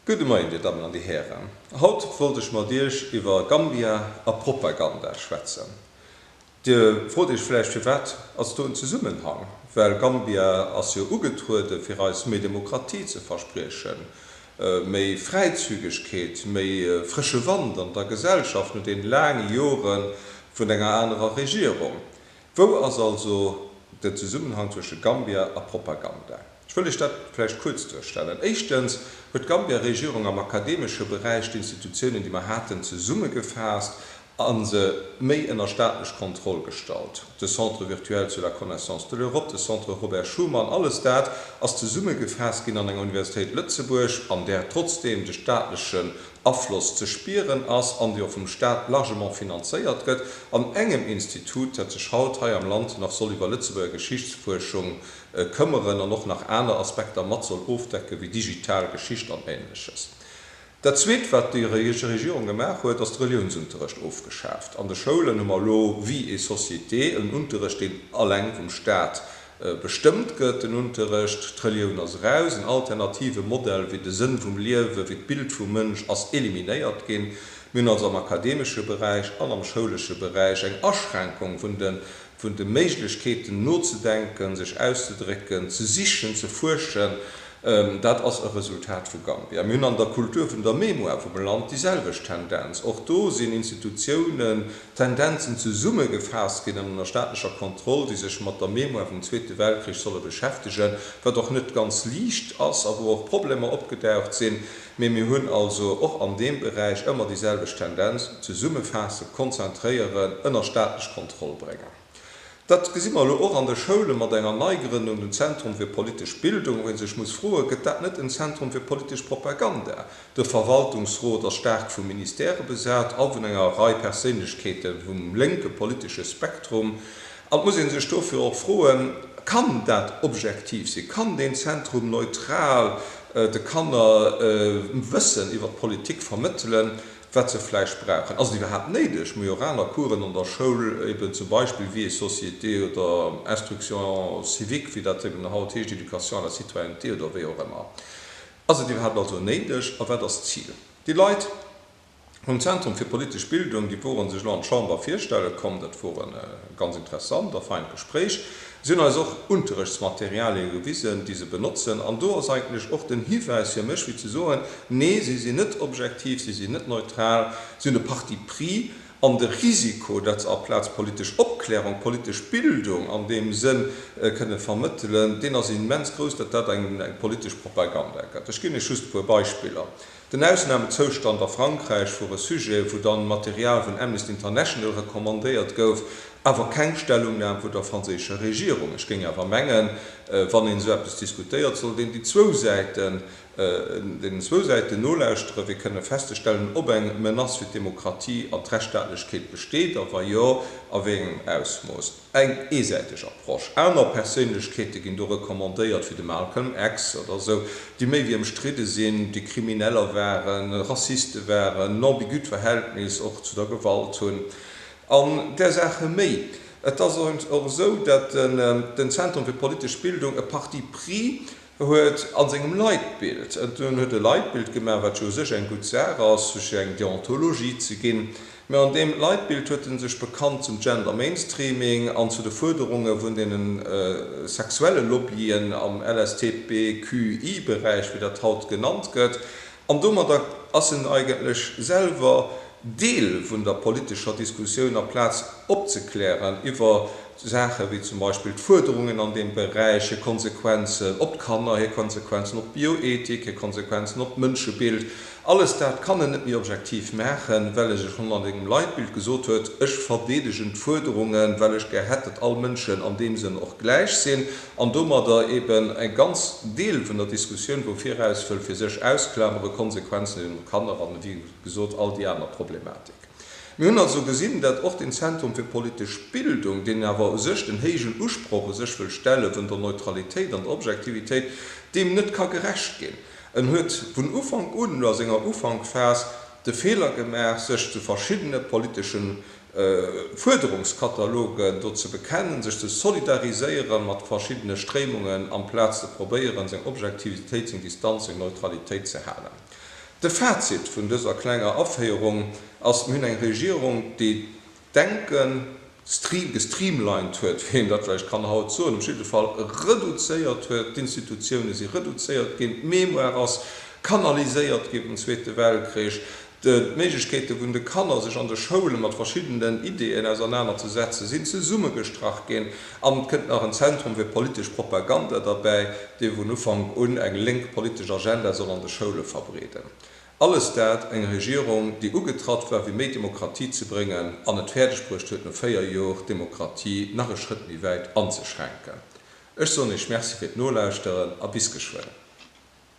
Gudde Moien, Dir Dammen an Dir Hären. Haut wollt ech mat Iech iwwer Gambia a Propaganda schwätzen. Dir frot Iech vläicht, firwat ass do en Zesummenhang? Well Gambia ass jo ugetruede fir eis méi Demokratie ze verspriechen, méi Fräizügegkeet, méi frësche Wand an der Gesellschaft no deene laange Jore vun enger anerer Regierung. Wou ass also den Zesummenhang zwësche Gambia a Propaganda? Ech wëll lech dat vläicht kuerz duerstellen. Éischtens huet d'Gambia Regierung am akademesche Beräich d'Institutiounen, déi mer haten, zesummegefaasst a se méi ënner staatlech Kontroll gestallt, de Centre virtuel sur la connaissance de l'Europe, de Centre Robert Schuman, alles dat ass zesummegefaasst ginn an enger Universitéit Lëtzebuerg, an där trotzdem de staatleche Afloss ze spieren ass an déi och vum Staat largement finanzéiert gëtt, an engem Institut, dat sech haut hei am Land nach soll iwwer Lëtzebuerger Geschichtsfuerschung këmmeren an och nach aner Aspekter mat soll ofdecke wéi digital Geschicht an Ähnleches. Dat Zweet, wat déi Regierung gemaach huet, ass de Reliounsunterrecht ofgeschaaft. An de Schoulen hu mer elo, vie et société, en Unterrecht, deen eleng vum Staat Bestëmmt gëtt den Unterrecht, d'Relioun ass eraus, en alternative Modell wéi de Sënn vum Liewen, wéi d'Bild vum Mënsch ass eliminéiert ginn. Mir hunn also am akademesche Beräich an am schoulesche Beräich eng Aschränkung vun de vun de Méiglechkeeten nozedenken, sech auszedrécken, ze sichen, ze fuerschen, Dat ass e Resultat vu Gambia. Mir hunn an der Kultur vun der Mémoire vum Land déi selwecht Tendenz. Och do sinn Institutiounen, Tendenzen zesumme gefaasst ginn an ënner staatlecher Kontroll, déi sech mat der Mémoire vum Zweete Weltkrich solle beschäftegen, wat och net ganz liicht ass a wou och Problemer opgedaucht sinn. Mee mir hunn also och an deem Beräich ëmmer déi selwecht Tendenz, zesummefaassen, konzentréieren, ënner staatlech Kontroll bréngen. Dat gesi mer elo och an de Schoulen mat enger Neigrënnung, dem Zentrum fir politesch Bildung. Wou ee sech muss froen, Gëtt dat net en Zentrum fir politesch Propaganda? De Verwaltungsrot ass staark vu Ministèrë besat a vun enger Rei Perséinlechkeete vum lénke politesche Spektrum. An et muss ee sech dofir och froen, Kann dat objektiv sinn? Kann deen Zentrum neutral de Kanner Wëssen iwwer d'Politik vermëttelen? wat se vläicht brauchen. Ass et iwwerhaapt néideg, Majoraler Coursen an der Schoul, eben zum Beispill Vie et société oder Instruction civique, wéi dat eben haut heescht, Éducation à la citoyenneté oder wéi och ëmmer? Ass et iwwerhaapt also néideg a wat ass d'Zil? Déi Leit vum Zentrum fir politesch Bildung, déi woren sech elo an d'Chamber virstelle komm, dat wor e ganz interessant a feint Gespréich. Si hunn eis och Unterrechtsmaterialien gewisen, déi se benotzen, an do ass eigentlech och den Hiwäis fir mech, wéi ze soen, Nee, si sinn net objektiv, si sinn net neutral, si hunn e Parti pris, an de Risiko, dat se aplaz politesch Opklärung, politesch Bildung an deem Sënn kënne vermëttelen, deen ass immens grouss, datt dat eng politesch Propaganda gëtt. Ech ginn lech just e puer Beispiller. Den Ausnamezoustand a Frankräich wor e Sujet, wou dann Material vun Amnesty International recommandéiert gouf, awer keng Stellungnam vun der franséischer Regierung. Ech géing awer mengen, wann een esou eppes diskutéiert, sollt een déi zwou Säiten, deenen zwou Säiten nolauschteren, fir kënnen festzestellen, ob eng Menace fir d'Demokratie an d'Rechtsstaatlechkeet besteet, a wa jo, a wéi engem Ausmooss. eng eesäiteg Approche. Aner Perséinlechkeete ginn do recommandéiert, wéi de Malcolm X oder esou, déi méi wéi ëmstridde sinn, déi Krimineller waren, Rassiste waren, en ambigüt Verhältnis och zu der Gewalt hunn an där Saache méi. Et ass och esou, datt den Zentrum fir politesch Bildung e Parti pris E huet a sengem Leitbild, en huet e Leitbild gemaach, wat jo u sech eng gutt Saach ass, fir eng Deontologie ze ginn, mä an deem Leitbild huet en sech bekannt zum Gender Mainstreaming an zu de Fuerderunge vun deene sexuelle Lobbyen am LSTBQI-Beräich, wéi dat haut genannt gëtt. An domadder ass en eigentlech selwer Deel vun der politescher Diskussioun, aplaz opzeklären iwwer. Saache wéi zum Beispill d'Fuerderungen an deem Beräich, hir Konsequenzen op d'Kanner, hir Konsequenzen op d'Bioethik, hir Konsequenzen op d'Mënschebild, alles dat kann en net méi objektiv maachen, well e sech hannert engem Leitbild gesot huet, ech verdeedegen d'Fuerderungen, well ech gär hätt, datt all Mënschen an deem Sënn och gläich sinn, an domadder eeben e ganz Deel vun der Diskussioun wou viraus wëll fir sech ausklameren, Konsequenzen eben op d'Kanner an, wéi gesot, all déi aner Problematik. Mir hunn also gesinn, datt och den Zentrum fir politesch Bildung, deen awer u sech den héijen Usproch u sech wëll stelle vun der Neutralitéit an der Objektivitéit, deem net ka gerecht ginn. En huet vun Ufank un oder a senger Ufankphas de Feeler gemaach, sech zu verschiddene politesche Fuerderungskatalogen do ze bekennen, sech ze solidariséiere mat verschiddene Stréimungen, amplaz ze probéieren, seng Objektivitéit, seng Distanz, seng Neutralitéit ze halen. De Fazit vun dëser klenger Aféierung ass, Mir hunn eng Regierung, déi d'Denken stream, gestreamlined huet, wéi een dat vläicht kann haut soen, op jidde Fall reduzéiert huet. D'Institutiounen si reduzéiert ginn, d'Mémoire ass kanaliséiert gi vum Zweete Weltkrich, d'Méiglechkeete vun de Kanner, sech an de Schoule mat verschiddenen Ideeën ausernaner ze setzen, sinn zesummegestrach ginn. An et kënnt nach en Zentrum fir politesch Propaganda derbäi, dee vun Ufank un eng lénk politesch Agenda soll an de Schoule verbreeden. Alles dat eng Regierung, déi ugetratt war fir méi Demokratie ze bréngen an et fäerdeg bruecht huet no 4 Jor d'Demokratie nach e Schrëtt méi wäit anzeschränken. Ech soen Iech Merci fir d'Nolauschteren a bis geschwënn.